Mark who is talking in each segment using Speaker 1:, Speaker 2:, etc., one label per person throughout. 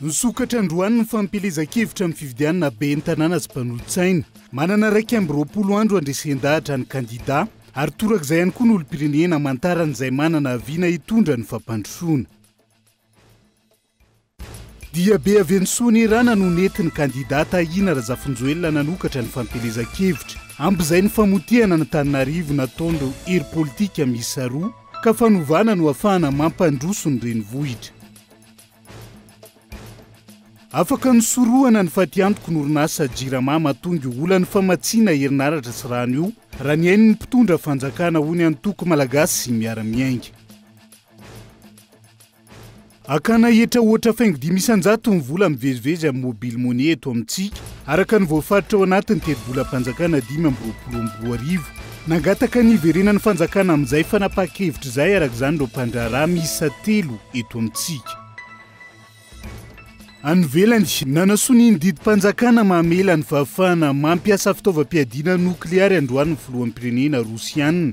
Speaker 1: Nisokatra androany ny fampielezan-kevitra amin'ny fifidianana ben'ny tanàna sy mpanolotsaina. Manana iraika amby roapolo andro handresen-dahatra ny kandidà ary torak'izay ihany koa ny olom-pirenena hamantarany izay manana vina hitondra ny fampandrosoana. Diabe avy any Soanierana no nentin'ny kandida Tahina Razafinjoelina nanokatra ny fampielezan-kevitra ambizay ny famotehana an'Antananarivo nataon'ireo hery politika miisa roa ka fanovana no hafahana mampandroso ny renivohitra. Afaka nosorohana ny fatiantoky n'orinasa Jirama mahatonga io olan'ny famatsiana herinaratra sy rano io raha ny ain'ny mpitondra fanjakana hoy ny antoko Malagasy miara-miainga. Akana hetra ohatra faingo dimy isan-jato ny vola mivezivezy amin'ny Mobile Money eto amintsika, araka ny voafaritra ao anatin'ny tetibolam-panjakana dimy amby roapolo amby roa arivo. Nangataka ny hiverenan'ny fanjakana amin'izay fanapahan-kevitra izay, araka izany, ireo mpandraharaha miisa telo eto amintsika. Any ivelany, nanasonia ny didim-panjakana mamela ny fahafahana mampiasa fitaovam-piadiana nokleary androany ny filoham-pirenena Rosiana.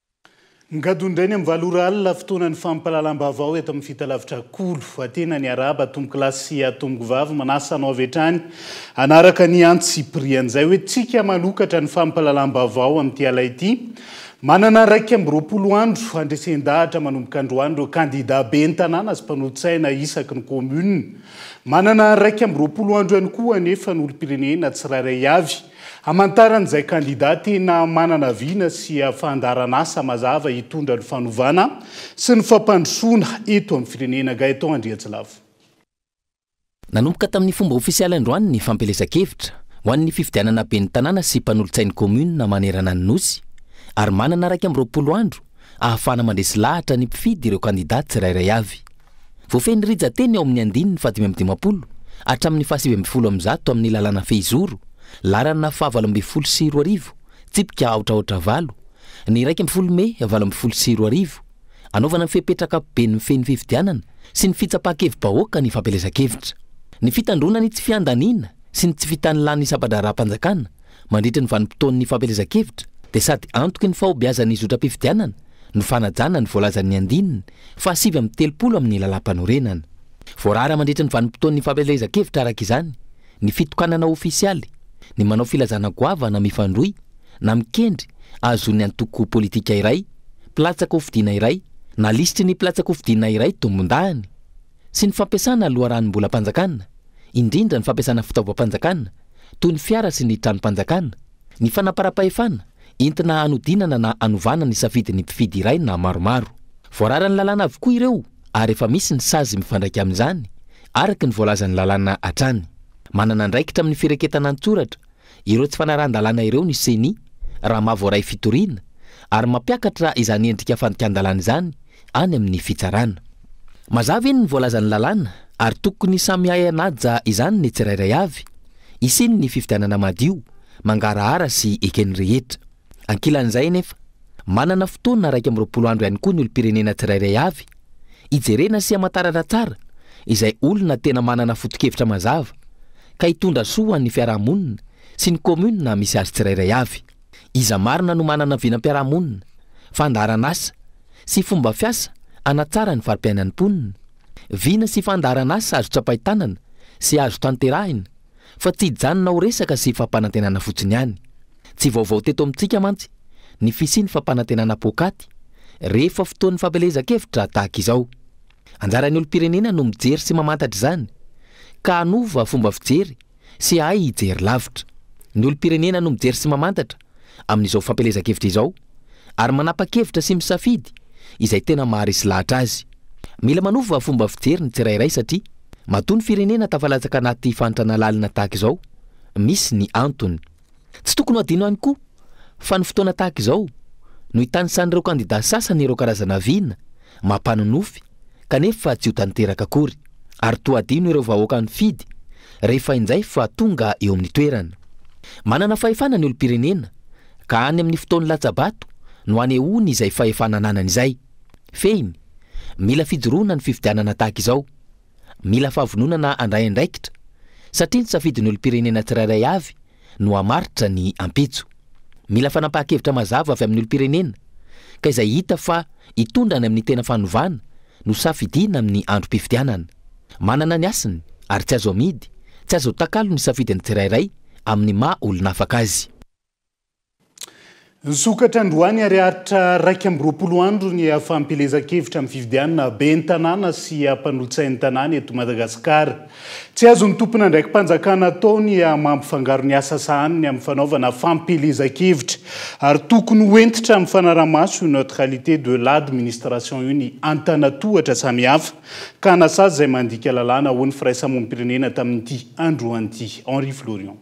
Speaker 1: Ngadu indray ny amin'ny valo ora alina fotoanan'ny fampahalalam-baovao eto amin'ny Fitalavitra Kolo. Atena ny arahaba atombokolahy sy atombovavy manasa anao avy hatrany hanaraka ny antsipirian'izay hoe tsika manokatra ny fampahalalam-baovao amin'ity ala ity. Manana iraika amby roapolo andro handresen-dahatra manomboka androany ireo kandida ben'ny tanàna sy mpanolo-tsaina isaky ny kaominina. Manana iraika amby roapolo andro ihany koa anefa ny olom-pirenena tsirairay avy. Hamantaran'izay kandidà tena manana vina sy fandaharan'asa mazava hitondra ny fanovana sy ny fampandrosoana eto amin'ny firenena, Gaëtan Andriantsilavo.
Speaker 2: Nanomboka tamin'ny fomba ofisialy androany ny fampielezan-kevitra ho an'ny fifidianana ben'ny tanàna sy mpanolotsain'ny kaominina manerana ny Nosy ary manana iraika amby roapolo andro ahafahana mandresy lahatra ny mpifidy ireo kandidà tsirairay avy. Voafehy ny rija teny ao amin'ny andininy fahadimy amby dimampolo hatramin'ny fahasivy ambin'ny folo amby zato amin'ny lalàna fehizoro, laharana fahavalo ambin'ny folo sy roa arivo, tsipika aotraotra valo, ny iraika ambin'ny folo mey valo ambin'ny folo sy roa arivo, hanaovana ny fepetra ankapobeny mifehy ny fifidianana sy ny fitsapan-kevi-bahoaka ny fampielezan-kevitra. Ny fitandroana ny tsy fiandaniana sy ny tsy fitanilàn'ny sampa-draharaham-panjakana, Mandritra ny vanim-potoan'ny fampielezan-kevitra dia sady antoky ny fahombiazan'ny zotram-pifidianana no fanajana ny voalazan'ny andininy fahasivy amby telopolo amin'ny Lalàmpanorenana. Voarara mandritra ny vanim-potoan'ny fampielezan-kevitra araka izany ny fitokanana ofisialy, ny manao filazana goavana mifandrohy na mikendry ahazoan'ny antoko politika iray mpilatsaka hofidiana iray na lisitry ny mpilatsaka hofidiana iray tombondahiny. sy ny fampiasana loharanom-bolam-panjakana, indrindra ny fampiasana fitaovam-panjakana toy ny fiara sy ny tranom-panjakana, ny fanamparam-pahefana entina hanodinana na hanovana ny safidin'ny mpifidy iray na maromaro. Voararan'ny lalàna avokoa ireo ary efa misy ny sazy mifandraika amin'izany araka ny voalazan'ny lalàna hatrany. Manana andraikitra amin'ny firaketana an-tsoratra ireo tsy fanarahan-dalàna ireo ny Ceni raha maha voaray fitoriana ary mampiakatra izany endrika fandikan-dalàna izany any amin'ny fitsarana. Mazava eny ny voalazan'ny lalàna ary tokony samy hahay hanaja izany ny tsirairay avy, hisian'ny fifidianana madio, mangarahara sy eken'ny rehetra. Ankilan'izay anefa, manana fotoana iraika amby roapolo andro ihany koa ny olom-pirenena tsirairay avy, hijerena sy hamantarana tsara izay olona tena manana foto-kevitra mazava, ka hitondra soa ho an'ny fiarahamonina sy ny kaominina misy azy tsirairay avy. Iza marina no manana vinam-piarahamonina, fandaharan'asa sy fomba fiasa hanatsara ny fari-piainan'ny mponina? Vina sy fandaharan'asa azo tsapain-tanana sy azo tanterahina, fa tsy hijanona ho resaka sy fampanantenana fotsiny ihany. Tsy vaovao teto amintsika mantsy ny fisian'ny fampanantenana poakaty rehefa fotoan'ny fampielezan-kevitra tahaka izao. Anjaran'ny olom-pirenena no mijery sy mamantatra izany ka hanova fomba fijery sy hahay hijery lavitra. Ny olom-pirenena no mijery sy mamantatra amin'izao fampielezan-kevitra izao ary manapa-kevitra sy misafidy izay tena maharesy lahatra azy. Mila manova fomba fijery ny tsirairay satria matoa ny firenena tafalatsaka anaty fahantrana lalina tahaka izao misy ny antony. Tsy tokony ho adino ihany koa fa ny fotoana tahaka izao no itanisan'ireo kandida sasany ireo karazana vina mampanonofy kanefa tsy ho tanteraka akory ary toa adino ireo vahoaka nifidy rehefa injay fa tonga eo amin'ny toerana. Manana fahefana ny olom-pirenena ka any amin'ny fotoan'ny latsa-bato no anehoany izay fahefana ananany izay. Fehiny, mila fijoroana ny fifidianana tahaka izao. mila fahavononana handray andraikitra, satria ny safidin'ny olom-pirenena tsirairay avy no hamaritra ny ampitso. Mila fanapahan-kevitra mazava avy amin'ny olom-pirenena, ka izay hita fa hitondra any amin'ny tena fanovana no safidiana amin'ny androm-pifidianana. Manana ny hasiny, ary tsy azo amidy, tsy azo atakalo ny safidin'ny tsirairay amin'ny maha olona afaka azy.
Speaker 1: Nisokatra androany ary aritra iraika amby roapolo andro ny fampielezan-kevitra amin'ny fifidianana ben'ny tanàna sy mpanolotsain'ny tanàna eto Madagasikara. Tsy azon'ny tompon'andraiki-panjakana atao ny mampifangaro ny asa sahaniny amin'ny fanaovana fampielezan-kevitra ary tokony ho hentitra amin'ny fanarahamaso io neutralité de l'administration io ny antanatohatra samihafa ka hanasazy izay mandika lalàna, hoy ny firaisamonim-pirenena tamin'ity androany ity. Henri Florian.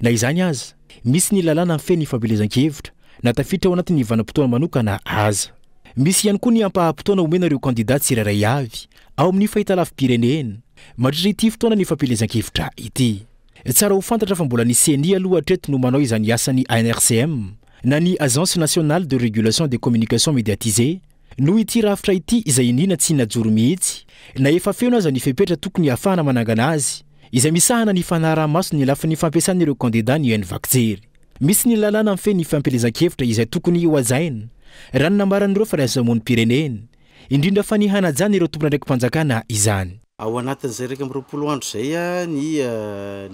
Speaker 3: Na izany aza, misy ny lalàna mifehy ny fampielezan-kevitra, na tafiditra ao anatin'ny vanim-potoana manokana aza. Misy ihany koa ny ampaham-potoana omena ireo kandidà tsirairay avy ao amin'ny fahitalavi-pirenena mandritra ity fotoanan'ny fampielezan-kevitra ity. Tsara ho fantatra fa mbola ny Ceni aloha hatreto no manao izany asan'ny ANRCM, na ny Agence Nationale de Régulation des Communications Médiatisées, noho ity rafitra ity izay iniana tsy najoro mihitsy na efa feno aza ny fepetra tokony hahafahana manangana azy izay misahana ny fanaraha-maso ny lafiny fampiasan'ireo kandidà ny Unvac Jery. Misy ny lalàna mifehy ny fampielezan-kevitra izay tokony hohajaina, raha ny nambaran'ireo firaisamonim-pirenena, indrindra fa ny hanajana ireo tompon'andraiki-panjakana izany. Ao anatin'izay iraika
Speaker 4: amby roapolo andro izay ny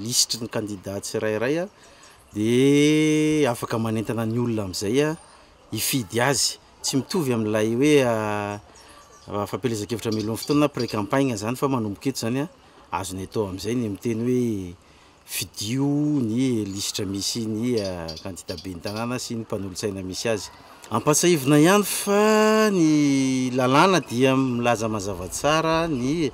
Speaker 4: lisitry ny kandidà tsirairay dia afaka manentana ny olona amin'izay hifidy azy. Tsy mitovy amin'ilay hoe fampielezan-kevitra hamelohan'ny fotoana na pré-campagne izany fa manomboka eto izany. azony atao amin'izay ny miteny hoe fidio ny lisitra misy ny kandida ben'ny tanàna sy ny mpanolotsaina misy azy. Ampahatsiahivina ihany fa ny lalàna dia milaza mazava tsara ny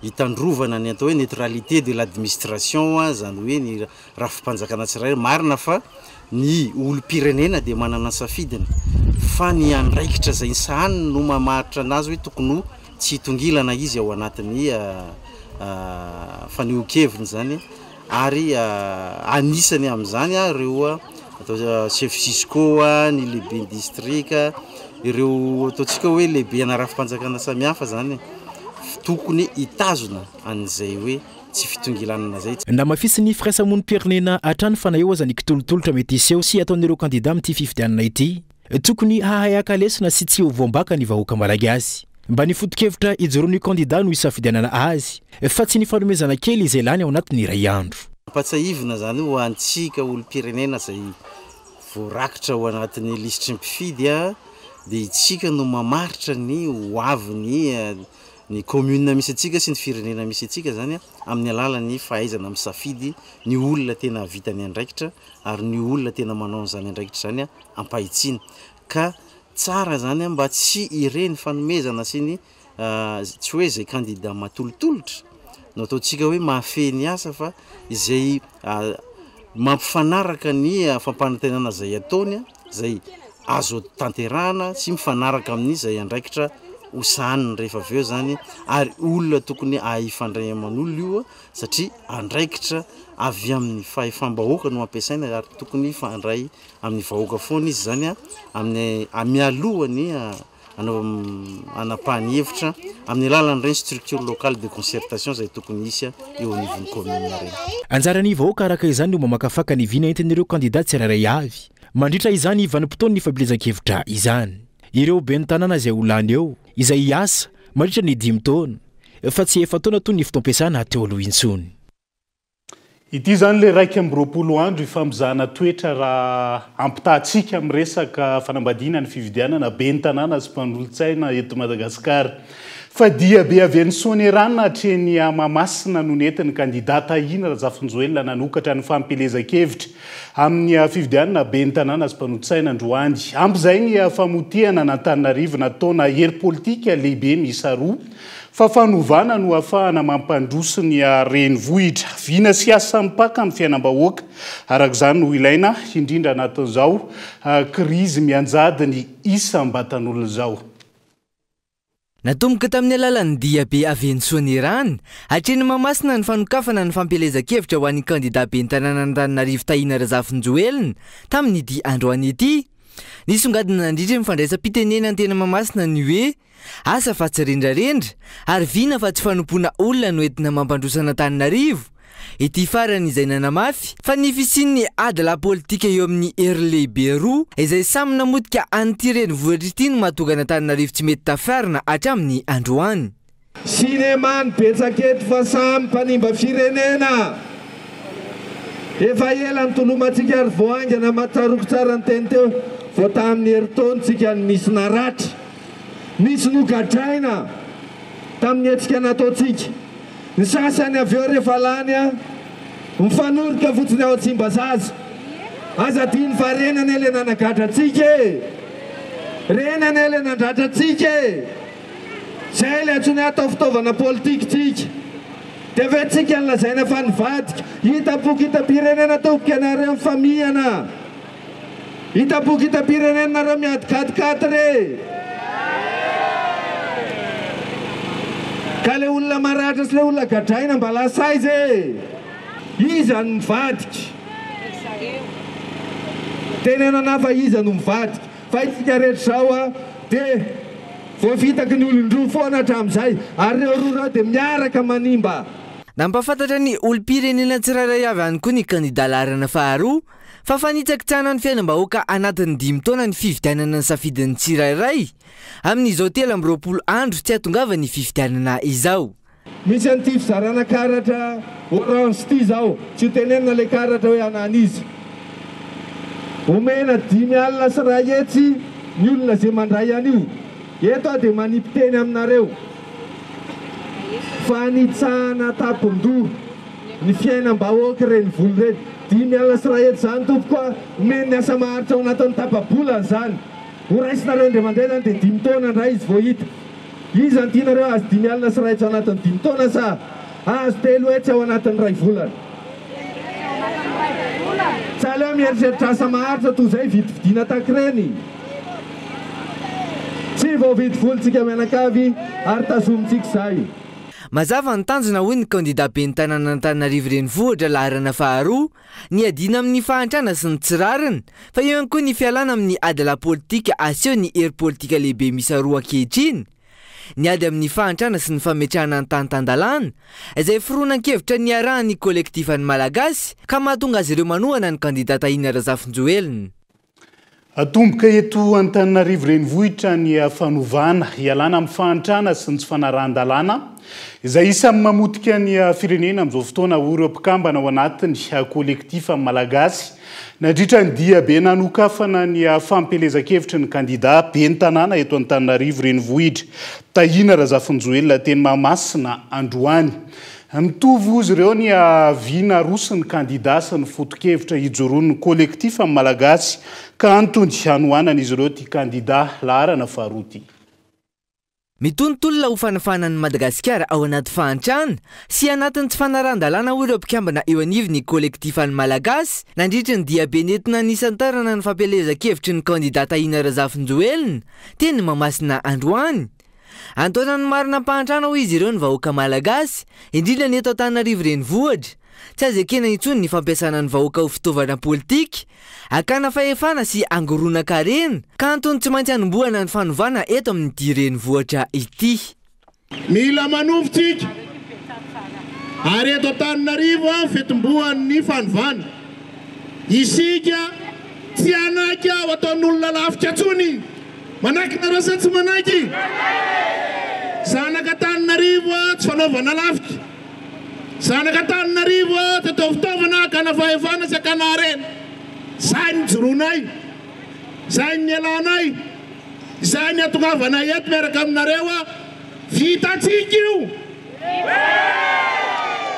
Speaker 4: hitandrovana ny atao hoe neutralité de l'admistration, izany hoe ny Rafi-panjakana tsirairay. Marina fa ny olom-pirenena dia manana ny safidiny fa ny andraikitra izay ny sahaniny no mamaritra anazy hoe tokony ho tsy hitongilana izy ao anatin'ny fanehoan-keviny izany ary anisany amin'izany ireo atao chef cisco, ny lehiben'ny distrika, ireo ataontsika hoe lehibe ana rafi-panjakana samihafa izany tokony hitazona an'izay hoe. tsy fitongilanana izay. Namafisin'ny
Speaker 3: firaisamonim-pirenena hatrany fa na eo aza ny kitolotolotra mety hiseho sy ataon'ireo kandida amin'ity fifidianana ity, tokony hahay haka lesona sy tsy ho voambaka ny vahoaka Malagasy. Mba ny foto-kevitra ijoroan'io kandida no hisafidianana azy fa tsy ny fanomezana kely izay lany ao anatin'ny iray andro. Ampatsiahivina izany
Speaker 4: ho antsika olom-pirenena izay voarakitra ao anatin'ny lisitry ny mpifidy dia isika no mamaritra ny hoavin'ny ny commune misy antsika sy ny firenena misy antsika izany amin'ny alalan'ny fahaizana misafidy ny olona tena hahavita ny andraikitra ary ny olona tena manao an'izany andraikitra izany ampahitsiana ka tsara izany mba tsy ireny fanomezana sy ny tsy hoe izay kandida matolotolotra no ataontsika hoe mahafehy ny asa fa izay mampifanaraka ny fampanantenana izay ataony izay azo tanterahana sy mifanaraka amin'ny izay andraikitra ho sahaniny rehefa avy eo izany ary olona tokony hifandray aman'olona io satria andraikitra avy amin'ny fahefam-bahoaka no ampiasaina ary tokony hifandray amin'ny vahoaka foana izy izany amin'ny mialoha ny hanapahany hevitra amin'ny alalan'ireny structure locale de concertation izay tokony hisy eo anivon'ny commune ireny.
Speaker 3: Anjaran'ny vahoaka araka izany no mamakafaka
Speaker 4: ny
Speaker 3: vina entin'ireo kandida tsirairay avy mandritra izany vanim-potoan'ny fampielezan-kevitra izany. Ireo ben'ny tanàna izay ho lany eo, izay hiasa mandritra ny dimy taona fa tsy efa-taona toy ny fotoam-piasana teo aloha intsony.
Speaker 1: Ity izany ilay iraika amby roapolo andro ifampizahana toetra raha ampitahatsika amin'ny resaka fanambadiana ny fividianana ben'ny tanàna sy mpanolotsaina eto Madagasikara. Fa diabe avy any Soanierana hatreny à Mahamasina no nentin'ny kandida Tahina Razafinjoelina nanokatra ny fampielezan-kevitra amin'ny fividianana ben'ny tanàna sy mpanolotsaina androany. Ampy izay ny famotiana an'Antananarivo nataona hery politika lehibe miisa roa Fa fanovana no hahafahana mampandroso ny renivohitra. Vina sy asa mipaka amin'ny fiainam-bahoaka, araka izany, no ilaina, indrindra anatin'izao krizy mianjady ny isam-batan'olona izao. Natomboka
Speaker 5: tamin'ny alalan'ny diabe avy eny Soanierana, hatreny Mahamasina ny fanokafana ny fampielezan-kevitra ho an'ny kandidà ben'ny tanànan'Antananarivo Tahina Razafinjoelina tamin'ity androany ity. Nisongadina nandritra ny fandraisam-pitenenany teny Mahamasina ny hoe. Asa fa tsy rendrarendra ary vina fa tsy fanompoana olona no entina mampandroso an'Antananarivo ity farany izay nanamafy fa ny fisian'ny ady lahy politika eo amin'ny hery lehibe roa izay samy namotika an'ity renivohitra ity no mahatonga an'Antananarivo tsy mety tafiarina hatramin'ny androany. Cinema
Speaker 6: ny betsaka eto fa samy mpanimba firenena. Efa ela nitolomantsika ary vao haingana mataroky tsara ny teny teo vao tamin'ny herintaontsika no nisy naratra. Nisy nogadraina tamin'ny hetsika nataontsika. Ny sasany avy eo rehefa lany an, mifanoroka fotsiny ao Tsimbazaza. Aza adino fa reny anie ilay nanagadra antsika e! Reny anie ilay nandratra antsika e! Izay ilay antsoiny hoe atao fitaovana politikintsika. Dia avy eo tsika no lazaina fa nivadika. Hitam-poko hitam-pirenena tompoko ianareo mifamihana. Hitaboky hitam-pirenena nareo miady katy katy re Ka le olona maratra sy le olona gadraina mba lasa aiza e Iza no mivadika Tenenana aho fa iza no mivadika Fa isika rehetra zao a de Voafitaky ny olon-droa foana hatramizay Ary reo roa reo de miaraka manimba. Nampahafantatra
Speaker 5: ny olom-pirenena tsirairay avy any koa ny kandida laharana faharoa, Fa fanitsakitsahana ny fiainam-bahoaka anatin'ny dimy taona ny fifidianana ny safidin'ny tsirairay, amin'izao telo amby roapolo andro tsy hahatongavan'ny fifidianana izao. Misy an'ity
Speaker 6: fizarana karatra orange ity izao, tsy ho tenenina ilay karatra hoe an'an'iza. Omena dimy alina sy iray hetsy ny olona izay mandray an'io. Eto aho dia manipy-teny aminareo. Fanitsahana an-tampon-doha ny fiainam-bahoaka ireny vola ireny. Dimy alina sy iray hetsy izany tompoko a! Omeny ny asa maharitra ao anatin'ny tapa-bolany izany. Horaisinareo indray mandeha izany dia dimy taona indray izy vao hita. Iza no tianareo hahazo dimy alina sy iray hetsy ao anatin'ny dimy taona sa hahazo telo hetsy ao anatin'ny iray volana? Tsy aleo mieritreritra asa maharitra toy izay vidividiana takiren'ny tsy voavidy volontsika mianakavy ary tazomintsika izay. Mazava
Speaker 5: ny tanjona hoy ny kandida ben'ny tanànan'Antananarivo renivohitra laharana faharoa, ny hiadiana amin'ny fahantrana sy ny tsy rariny, fa eo ihany koa ny fialana amin'ny ady lapolitika aseho ny hery politika lehibe miisa roa ankehitriny, ny ady amin'ny fahantrana sy ny fametrahana ny tany tan-dalàna, izay foronan-kevitra niarahan'ny kolektifan'ny Malagasy ka mahatonga azy ireo manohana ny kandida Tahina Razafinjoelina.
Speaker 1: Atomboka eto Antananarivo renivohitra ny fanovana, hialana amin'ny fahantrana sy ny tsy fanarahan-dalàna, izay isan'ny mamotika ny firenena amin'izao fotoana, hoy ireo mpikambana ao anatiny Collectif Malagasy, nandritra ny diabe nanokafana ny fampielezan-kevitry ny kandida ben'ny tanàna eto Antananarivo renivohitra, Tahina Razafinjoelina, teny Mahamasina, androany. Nitovy hozy ireo ny avis naroson'ny kandida sy ny fotokevitra hijoroan'ny Collectif Malagasy ka antony hanohanan'izy ireo ity kandida laharana faharoa ity. Mitontolona
Speaker 5: ho fanafahana an'i Madagasikara ao anaty fahantrana sy anatin'ny tsy fanarahan-dalàna hoy ireo mpikambana eo anivon'ny Collectif an'ny Malagasy nandritry ny diabe nentina nisantarana ny fampielezan-kevitry ny kandida Tahina Razafinjoelina teny Mahamasina androany. Antoana ny marina am-pahantrana hoy izy ireo ny vahoaka Malagasy, indrindra ny eto Antananarivo renivohitra. Tsy azo ekena intsony ny fampiasana ny vahoaka ho fitaovana politika, hakana fahefana sy hangoronan-karena, ka antony tsy maintsy hanombohana ny fanovana eto amin'ity renivohitra ity. Mila
Speaker 7: manovo tsika ary eto Antananarivo aho fetimbohan'ny fanovana. Isika tsy hanaiky aho ataon'olona lafika tsony. Manaiky nareo sa tsy manaiky? Zanaka Antananarivo a, tsy fanaova nalafika. Zanaka Antananarivo a, tsy atao fitaovana hakana fahefana sy hakana harena. Izay no nijoroanay, izay no nialanay, izay no nihatongavanay eto miaraka aminareo a. Vitantsika io?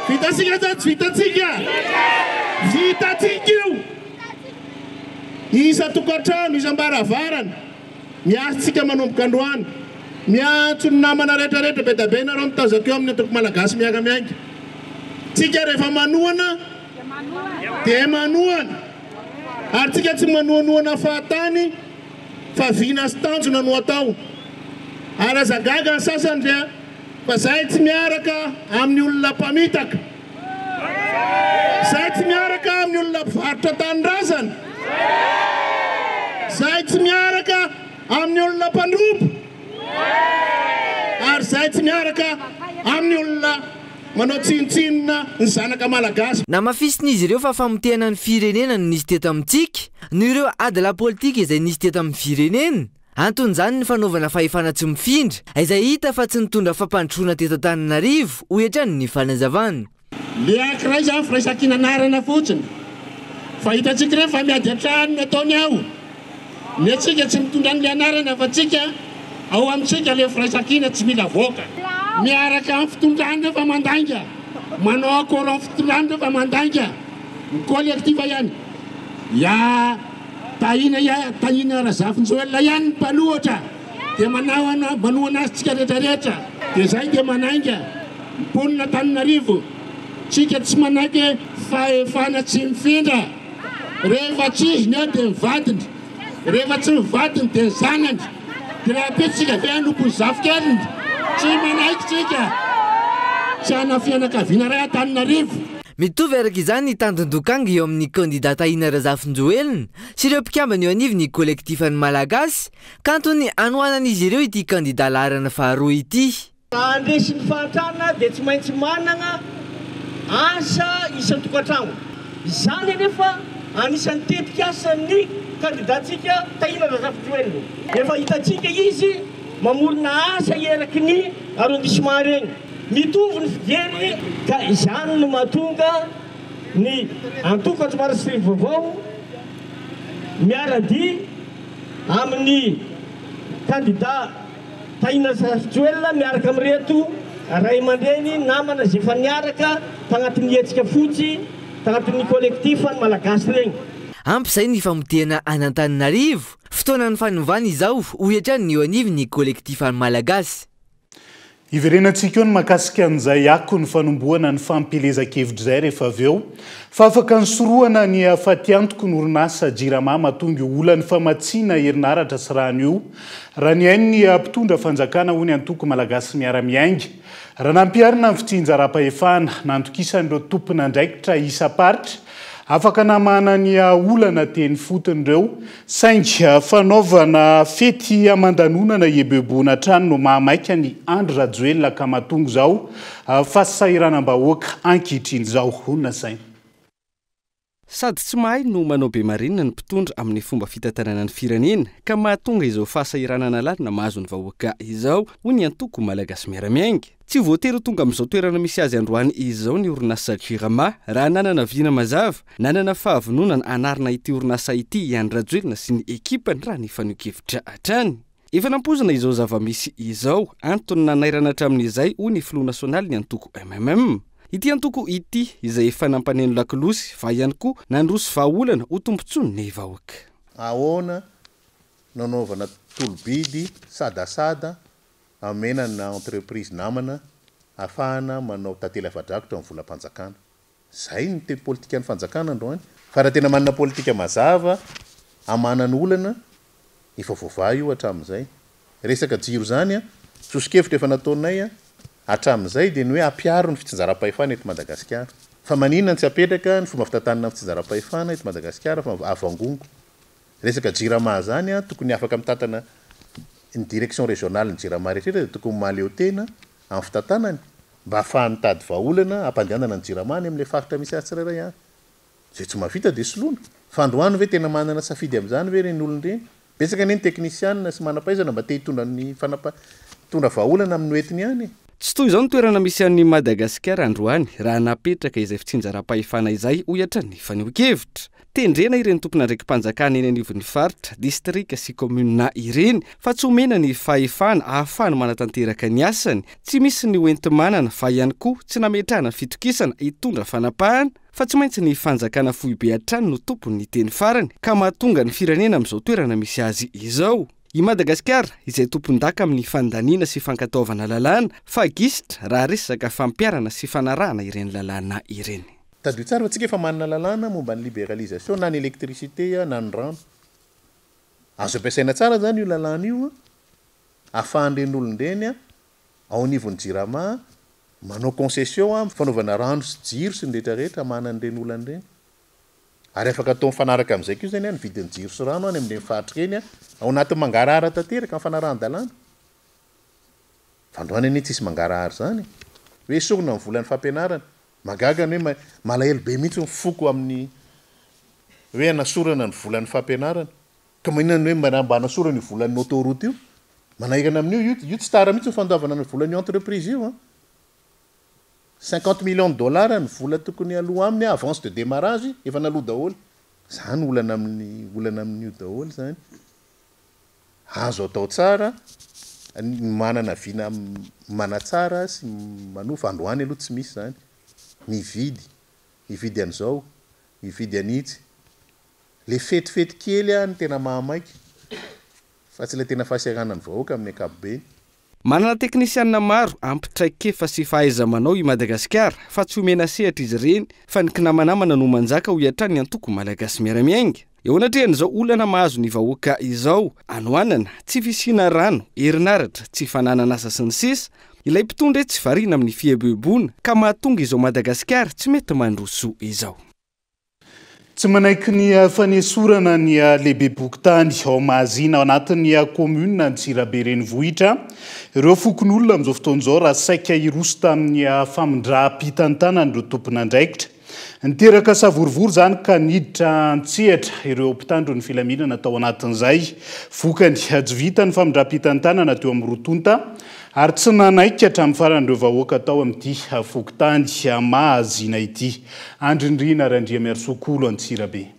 Speaker 7: Vitantsika sa tsy vitantsika? Vitantsika io? isan-tokantrano, isam-baravarana, miasintsika manomboka androany. Miantso ny namana rehetrarehetra, be dia be nareo mitazako eo amin'ny Antoko Malagasy Miara-Miainga. Tsika rehefa manohana dia manohana, ary tsika tsy manohanohana fahatany fa vina sy tanjona no atao. Ary aza gaga ny sasany fa zay tsy miaraka amin'ny olona mpamitaka. Zay tsy miaraka amin'ny olona mpivarotra tanindrazana. Zay tsy miaraka amin'ny olona mpandroba. Ary zay tsy miaraka amin'ny olona manao tsinontsinona ny zanaka malagasy. Namafisin'izy ireo
Speaker 5: fa famotehana ny firenena no nisy teto amintsika noho ireo ady lapolitika izay nisy teto amin'ny firenena. Anton'izany ny fanaovana fahefana tsy mifindra, izay hita fa tsy nitondra fampandrosoana teto Antananarivo, hoy hatrany ny fanazavany. Leaky
Speaker 7: iray izany, firaisan-kina anarana fotsiny. Fa hitantsika ireny fa miady an-trano no ataony ao. Ny antsika tsy mitondra an'ilay anarana fa tsika, ao amintsika ilay firaisan-kina tsy mila avoaka. Miaraka amin'ny fitondrana ireo fa mandainga, manao accord amin'ny fitondrana ireo fa mandainga, ny collectif ihany. Ya. Tahiana ihany, tahiana Razafinjoelina ihany ny mpanohatra dia manaoana, manohana azy tsika rehetra rehetra. Dia izay dia manainga mponina Antananarivo, tsika tsy manaiky fahefana tsy mifindra, rehefa tsy izy ny eo dia ny vadiny, rehefa tsy ny vadiny dia ny zanany, dia raha be tsika ve hanompo ny zafikeliny, tsy manaiky tsika, tsy hana fianakaviana iray Antananarivo. Mitovy araka
Speaker 5: izany ny tandindokangy eo amin'ny kandida Tahina Razafinjoelina sy ireo mpikambana eo anivon'ny Kolektifan'ny Malagasy ka antony anohanan'izy ireo ity kandida laharana faharoa ity. Raha handresy ny
Speaker 8: fahantrana dia tsy maintsy manana asa isan-tokantrano. Izany anefa anisan'ny tetikasan'ny kandidantsika Tahina Razafinjoelina. Efa hitantsika izy mamorona asa eraky ny arrondissement reny. Mitovy ny fijery ka izany no mahatonga ny antokatry Marisrivy vaovao miara-dia amin'ny kandida Tahina Rajoelina miaraka amin'ireto ray aman-dreny namana izay efa niaraka tanatin'ny hetsika fotsy tanatin'ny collectif ny Malagasy regny. Ampy izay ny
Speaker 5: famotehana an'Antananarivo, fotoanan'ny fanovana izao, hoy hatrany ny eo anivon'ny collectif ny Malagasy.
Speaker 1: Hiverenantsika eo ny mahakasika an'izay akon'ny fanombohana ny fampielezan-kevitra izay rehefa avy eo fa afaka nisorohana ny hafatiantoky ny orinasa Jirama mahatonga io olan'ny famatsiana herinaratra sy rano io raha nihaino ny mpitondra fanjakana hoy ny antoko Malagasy Miara-miainga raha nampiharina ny fitsinjaram-pahefana nandokisan'ireo tompon'andraikitra isam-paritra Afaka namahana ny aha olana teny fotony ireo, saingy fanaovana fety aman-danonana hieboeboana hatrany no mahamaika an'i Andry Rajoelina ka mahatonga izao fasahiranam-bahoaka ankehitriny izao, hoy ny nasainy.
Speaker 9: Sady tsy mahay no manao be marenina ny mpitondra amin'ny fomba fitantanana ny firenena ka mahatonga izao fahasahiranana lalina mahazo ny vahoaka izao, hoy ny antoko Malagasy Miara-miainga. Tsy ho voatery ho tonga amin'izao toerana misy azy androany izao ny orinasa Jirama, raha nanana vina mazava, nanana fahavononana hanarina ity orinasa ity i Andry Rajoelina sy ny ekipany raha ny faneho-kevitra hatrany. Efa nampoizina izao zava-misy izao, antony nanairana hatramin'izay, hoy ny filoha nasionalin'ny antoko MMM. Ity antoko ity, izay efa nampaneno lakolosy, va ihany koa nandroso vahaolana ho tombontsoan'ny vahoaka. Ahoana
Speaker 10: no anaovana tolo-bidy sadasada Amena amina entreprise namana afahana manao tantely afa-drakotra ny volam-panjakana. Zay no te politikan'ny fanjakana androany fa raha tena manana politika mazava amanany olana efa voavaha io hatramin'izay. Resaka jiro zany an, soso-kevitra efa nataonay an, hatramin'izay dia ny hoe ampiaro ny fitsinjaram-pahefana eto Madagasikara. Fa maninona tsy apetraka ny fomba fitantanana ny fitsinjaram-pahefana eto Madagasikara fa avangongo. Resaka jirama zany an tokony afaka mitantana ny direction régionale ny jirama rehetra rehetra dia tokony mahaleo tena amin'ny fitantanany mba hahafahany mitady vahaolana hampandehanana ny jirama any amin'ilay faritra misy azy tsirairay avy. Izay tsy mahavita dia soloina. Fa androany ve tena manana safidy amin'izany ve ireny olona ireny? Betsaka anie ny teknisianina sy manampahaizana mba te hitondra ny fanapa hitondra vahaolana amin'ny hoentiny any e! Tsy toy izao ny toerana
Speaker 9: misy an'i Madagasikara androany raha napetraka izay fitsinjaram-pahefana izay, hoy hatrany ny fanehoan-kevitra. Tendrena ireny tompon'andraiki-panjakana eny anivon'ny faritra, distrika sy kaominina ireny fa tsy omena ny fahefana ahafahany manatanteraka ny asany, tsy misy ny hoenti-manana fa ihany koa tsy nametrahana fitokisana hitondra fanapahana fa tsy maintsy ny fanjakana foibe hatrany no tompon'ny teny farany ka mahatonga ny firenena amin'izao toerana misy azy izao. I Madagasikara, izay tompondaka amin'ny fandaniana sy fankatoavana lalàna, fa gisitra raha resaka fampiharana sy fanarahana ireny lalàna ireny. Tadidio tsara fa tsika efa
Speaker 10: manana lalàna momba ny liberalisation na ny électricité na ny rano. Azo ampiasaina tsara zany io lalàna io afahan'ireny olona ireny ao anivon'ny jirama manao concession am fanaovana rano sy jiro sy ny rehetra rehetra manana ireny olana ireny. Ary afaka atao mifanaraka amin'izay koa zany an ny vidin'ny jiro sy rano any amin'ireny faritra ireny an ao anatin'ny mangarahara tanteraka ny fanarahan-dalàna. Fa androany anie tsisy mangarahara izany e. Hoe esorina ny volan'ny fampianarana. Mahagaga ny hoe malahelo be mihitsy ny foko amin'ny hoe hanasorana ny volan'ny fampianarana. Ka maninona ny hoe mba mba hanasorana io volan'ny autoroute io? Manahirana amin'io io io tsy tara mihitsy ny fandoavana ny volan'io entreprise io an! Cinquante millions de dollars ny vola tokony aloa aminy avance de démarrage efa naloa daholo. Zany olana amin'ny olana amin'io daholo zany. Azo atao tsara ny manana vina manatsara sy manofa, androany aloha tsy misy izany, mividy, mividy an'izao, mividy an'itsy. Ilay fetifety kely no tena mahamaika fa tsy ilay tena fahasiaranan'ny vahoaka amin'ny ankapobeny. Manana
Speaker 9: teknisianina maro ampy traikefa sy fahaiza-manao i Madagasikara fa tsy omena sehatra izy ireny fa ny kinamanamana no manjaka hoy hatrany ny antoko Malagasy Miara-Miainga. Eo anatrehan'izao olana mahazo ny vahoaka izao, hanoanana, tsy fisiana rano, herinaratra, tsy fananan'asa sy ny sisa, ilay mpitondra etsy variana amin'ny fieboeboana ka mahatonga izao Madagasikara tsy mety mandroso izao.
Speaker 1: Tsy manaiky ny fanesorana ny lehibem-pokontany ao Mahazina, ao anatin'ny kaominina Antsirabe renivohitra, ireo fokonolona amin'izao fotoana izao raha saika hiroso tamin'ny famindram-pitantanan'ireo tompon'andraikitra. Niteraka savorovoro izany ka niditra an-tsehatra ireo mpitandro ny filaminana tao anatin'izay. Vokany, tsy vita ny famindram-pitantanana teo amin'ny roa tonta. Ary tsy nanaiky hatramin'ny farany ireo vahoaka tao amin'ity fokontany Mahazina ity. Andry Nirina Randriamiarisoa Kolo Antsirabe.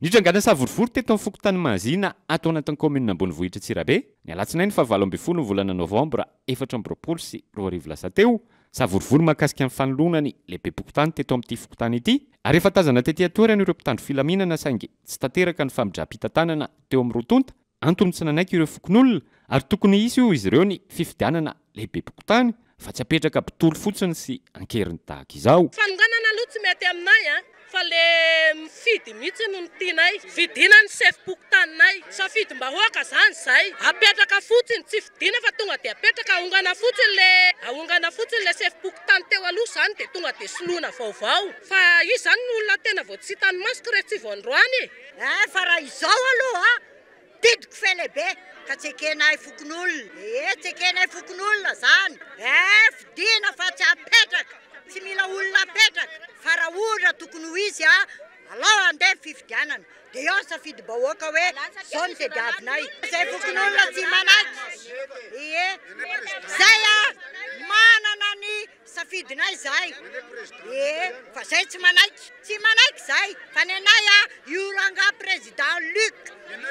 Speaker 11: Nitrangana savorovoro teto amin'ny fokontany Mahazina ato anatin'ny kaominina ambonivohitra Antsirabe, ny alatsinainy faha valo ambin'ny folo ny volana novambra efatra amby roapolo sy roa arivo lasa teo, savorovoro mahakasika ny fanoloana ny lehibem-pokontany teto amin'ity fokontany ity ary efa tazana tety an-toerana ireo mpitandro filaminana saingy tsy tanteraka ny famindram-pitantanana teo amin'ny roa tonta Antony tsy nanaiky ireo fokonolona ary tokony hisy hoy izy ireo ny fifidianana lehibem-pokontany fa tsy apetraka mpitory fotsiny sy ankeriny tahaka izao. Fanonganana aloha tsy mety
Speaker 12: aminay an! Fa le mifidy mihitsy no tianay! Fidiana ny sefom-pokontaninay! Safidim-bahoaka zany zay! Apetraka fotsiny! Tsy fidiana fa tonga dia apetraka! Ahongana fotsiny le ahongana fotsiny le sefom-pokontany teo aloha zany dia tonga dia soloina vaovao! Fa izy zany no olona tena vao tsy hitan'ny masoko re tsy vao androany e! Eh fa raha
Speaker 13: izao aloha didiko fe lehibe ka tsy ekenay fokonolona ee tsy ekenay fokonolona zany eh fidina fa tsy apetraka tsy mila olona apetraka fa raha ohatra tokony ho izy a alao andeha ny fifidianana de eo ny safidim-bahoaka hoe zao ny tediavinay zay fokonolona tsy manaiky ee zay a manana ny Safidinay izay e! Fa zay tsy manaiky, tsy manaiky zay fa ny anay a io rangah président Luc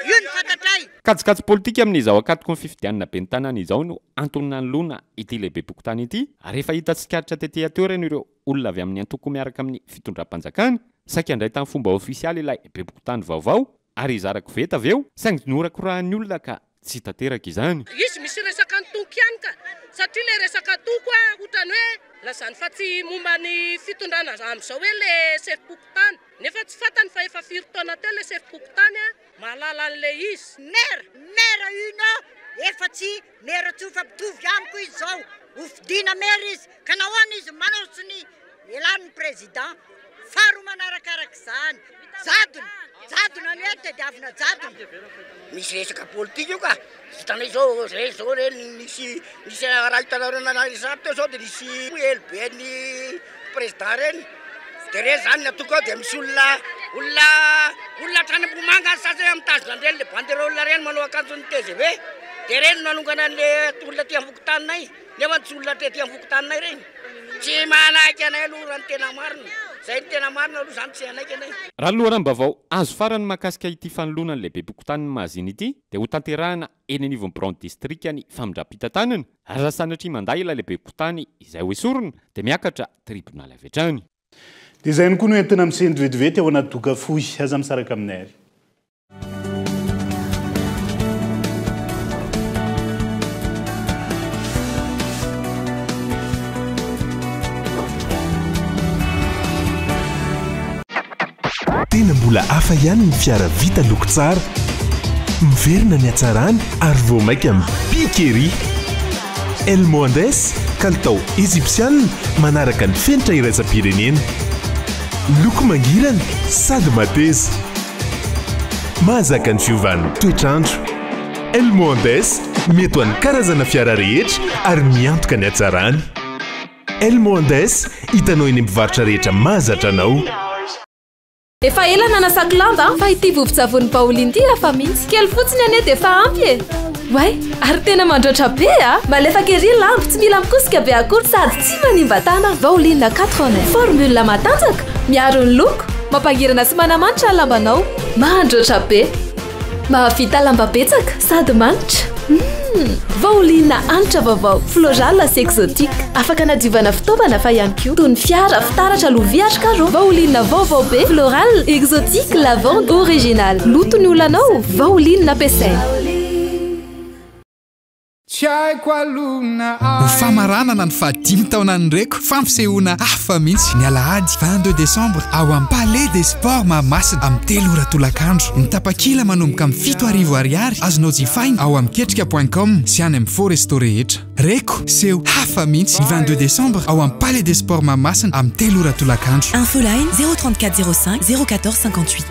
Speaker 13: io no fantatray. Kajikajy politika
Speaker 11: amin'izao ankatoky ny fifidianana ben'ny tanàna izao no antony nanoloana ity lehibem-pokontany ity ary rehefa hita tsikaritra tety an-toerana ireo olona avy amin'ny antoko miaraka amin'ny fitondram-panjakana saika handray tamin'ny fomba ofisialy ilay bem-pokontany vaovao Ary hizara koveta avy eo? Saingy norakorahan'ny olona ka tsy tanteraka izany. Izy misy resaka
Speaker 12: antoko ihany ka. Satria ilay resaka antoko a, otrany hoe lazany fa tsy momba ny fitondrana amzao hoe le sefom-pokontany. Nefa tsy fantany fa efa firy taona teo le sefom-pokontany a, mahalala an'ilay izy. Maire, maire
Speaker 13: Uno efa tsy Mero tsy ho fa mitovy amiko izy zao ho fidiana mero izy ka nahoana izy manaoso ny elan'ny président faharoa manaraka araka izany jadona jadona ny hoe tediavina jadona. Misy resaka
Speaker 14: politika io ka, hitanay zao zay zao re nisy nisy raha hitanareo nanary resap teo zao de nisy elo be an'i. Président reny de re zany ny atoko ao de misy olona olona olona hatrany Ambohimanga any sasany mitazona an'ireny le banderole ireny manao akanjon'ny tgv de reny no nanongana an'le olona aty anfokontaninay nefa tsy olona aty anfokontaninay reny tsy manaiky anay aloha raha ny tena marina zay ny tena marina aloha zany tsy hanaiky anay. Raha ny loharanom-baovao
Speaker 11: azo farany mahakasika ity fanoloana ny lehibe-pokontanin'i Mahazina ity dia hotanterahina eny anivon'ny biraon'ny distrikan'ny famindram-pitantanana, ary raha sanatria mandà ilay lehiben-kontany izay ho esorina, dia miakatra tribonaly avy hatrany. Dia izay ihany
Speaker 1: koa no entina misendry vetivety ao anaty doka fohy. Aza misaraka aminay ary.
Speaker 15: Tena mbola hafa ihany ny fiara vita loko tsara. Miverina ny hatsarany ary vao mainka mipika ery. El Mohandes, kalitao Ejipsianina manaraka ny fenitra iraisam-pirenena. Loko mangirana sady mateza. Mahazaka ny fiovan'ny toetr'andro. El Mohandes, mety ho an'ny karazana fiara rehetra ary miantoka ny hatsarany. Elmo Andes, hitanao eny amin'ny mpivarotra rehetra mahazatra anao.
Speaker 16: Efa ela nanasako lamba fa ity vovon-tsavony Baolin ity hafa mihitsy. Kely fotsiny anie dia efa ampy e! Oay! Ary tena mandraotra be a! Malefaka ery lamba, tsy mila mikosika be akory sady tsy manimba tànana. Baolin Quatre-Vingt-Un, formule matanjaka, miaro ny loko, mampangirana sy manamanitra ny lambanao. Mandraotra be! Mahavita lamba betsaka sady manitra. Hum! Vauliana hanitra vaovao Floral sy Exotique. Afaka anadiovana fitaovana fa ihany koa toy ny fiara, fitaratra, lovia ary carreaux. Vauliana vaovao be Floral, Exotique, Lavande, Original. Loto ny olanao? Vauliana ampiasaina. Tsy haiko
Speaker 17: aloha na aiza. Ho famaranana ny fahadimy taonan'ny Reko, fampisehoana hafa mihitsy, ny alahady vingt deux décembre ao amin'ny Palais des Sports Mahamasina, amin'ny telo ora tolakandro. Ny tapakila manomboka amin'ny fito arivo Ariary azonao jifaina ao amin'ny ketrika point com sy any amin'ny Fo Resto rehetra. Reko, seho hafa mihitsy, ny vingt deux décembre ao amin'ny Palais des Sports Mahamasina, amin'ny telo ora tolakandro. Infoline, zéro trente
Speaker 18: quatre zéro cinq zéro quatorze cinquante huit.